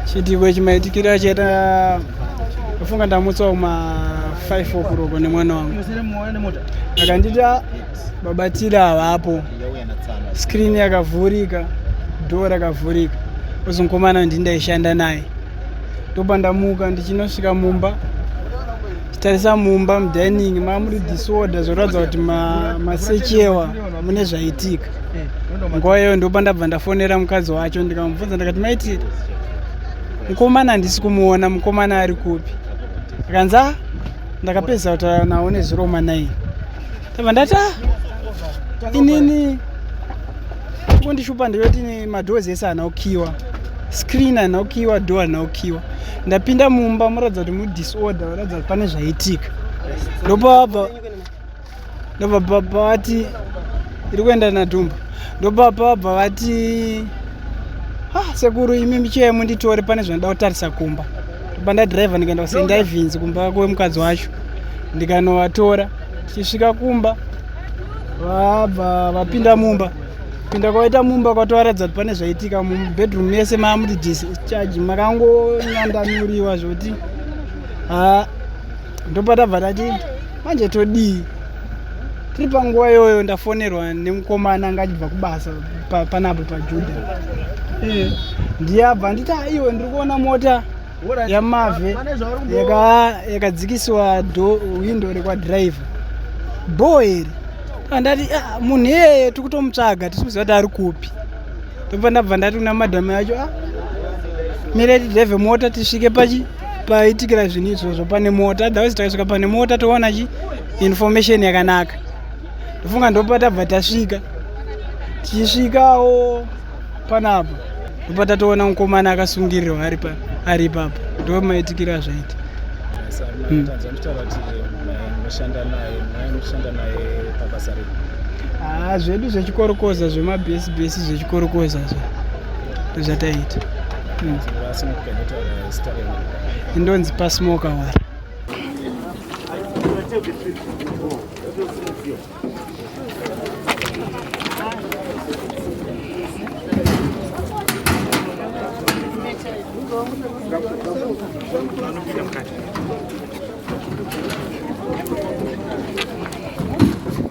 chiitiko chimaitikira chaita kufunga ndamutswa kuma 5 okuroko nemwana wangu akanditi ah, babatira havapo skrini yakavhurika dho rakavhurika ozonkomana ndindaishanda naye ndobva ndamuka ndichinosvika mumba tarisa mumba mudining mamuri disorder zvoratidza kuti masechewa mune zvaitika nguva iyoyo ndopa ndabva ndafonera mukadzi wacho ndikamubvunza ndikati maiti mukomana handisi kumuona mukomana ari kupi akanzi a ah, ndakapedza kutaura nawo neziroma naini tava ndati ah, inini kundishupa ndeyoti madoors ese ana ukiwa screen ana ukiwa door ana ukiwa ndapinda mumba muratidza kuti mudisorder varatidza kuti pane zvaitika ndopabva ndopabva vati iri kuenda nadhumba ndopapa bva vati ah, sekuru imi michiya yemunditore pane zvandida kutarisa kumba ndobva ndadriver ndikaenda kusaint ivens kumba kwemukadzi wacho ndikanovatora tichisvika kumba vabva vapinda mumba pinda kwavaita mumba kwatovaratidza kuti pane zvaitika mubedroom yese maamuti discharge makangonyandanuriwa zvokuti haa ndopatabva tati manje todii tiri panguva iyoyo ndafonerwa nemukomana anga achibva kubasa panapo pajuda eh. ndiyabva nditi aiwe ndiri kuona mota yamave yakadzikisiwa windo rekwadriver bho iri andati ah, munhu iyeye tiri kutomutsvaga tisi kuziva kuti ari kupi ndobva ndabva ndati kuna madhamu yacho ah, mire tidhevhe mota tisvike pachi paitikira zvinhu izvozvo pane mota otherwise takasvika pane mota toona chi information yakanaka ndofunga ndopatabva tasvika tichisvikawo panapa ndopatatoona mukomana akasungirirwa ari pa ari ipapo ndo maitikira zvaita hmm. haa ah, zvedu zvechikorokoza zvemabhesi bhesi zvechikorokoza zva zvataita hmm. ndonzi pasmoka wari